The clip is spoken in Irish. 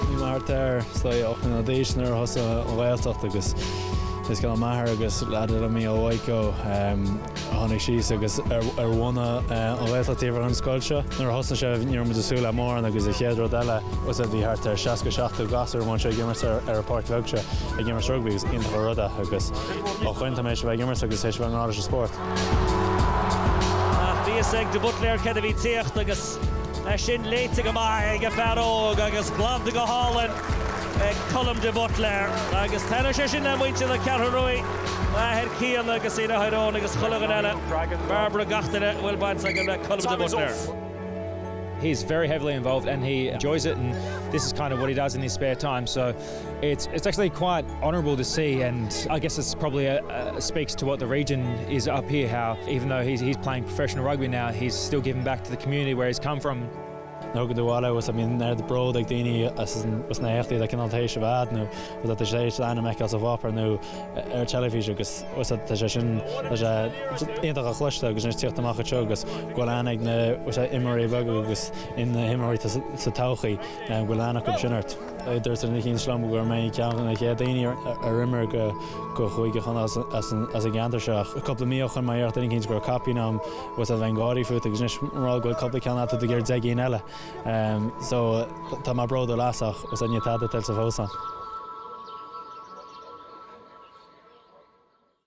Bhí mé thart ar sílim ocht mbliana d'aois nuair a thosaigh an Ghaeltacht agus is Cian m'athair agus leathadh le mí ó Mhaidhco a tháinig síos agus a bhunaigh an Ghaeltacht taobh thiar den scoil seo. Nuair a thosnaigh sé ní raibh muid ag súil le mórán agus an chéad rud eile bhfuil fhios agat bhí thart ar seasca seachtó gasúr amuigh anseo ag imirt ar an bpáirc bheag seo ag imirt rugbaí agus iontach an rud é agus ó shoin tá mé tar éis a bheith ag imirt agus tar éis a bheith i ngrá leis an spórt. Ach bhí fhios ag de Buitléar cad a bhí tíocht agus é sin léite go maith ag an fear óg agus glanta go hálainn ag Colm de Buitléar. Agus taitneoidh sé sin le muintir na Ceathrún Rua, a athair Cian agus a dheartháir Eoin agus chuile dhuine eile, Barbara, gach duine a bhfuil baint aige le Colm de Buitléar. He's very heavily involved and he enjoys it and this is kind of what he does in his spare time so. It's it's actually quite honourable to see and I guess it's probably a a speaks to what the region is up here how even though he's he's playing professional rugby now he's still giving back to the community where he's come from. nó go dtuala agus a mbíonn ardbhród ag daoine as as na héachtaí le cineál taois a bhead nó rud a tá siad tar éis d'ainm a fheiceáil sa bpáipéar nó ar teilifís agus fhios agat tá sé sin tá sé iontach a chloisteáil agus anois tíocht amach anseo agus go bhfuil aithne ag na fhios agat imreoirí beaga agus na himreoirí sa todhchaí go bhfuil aithne acu sin ort. Dúirt duine eicínt liom gur mé ceann de na chéad daoine ar imir do Chúige Chonnacht as an gceantar seo. Cúpla mí ó shoin má dhéarfadh duine eicínt go raibh caipín agam bheinn ag gáirí fút agus anois murach go bhfuil cúpla ceann agat tá tú ag iarraidh deich gcinn eile so tá mé bródúil as ach níl tada tuillte fós agam.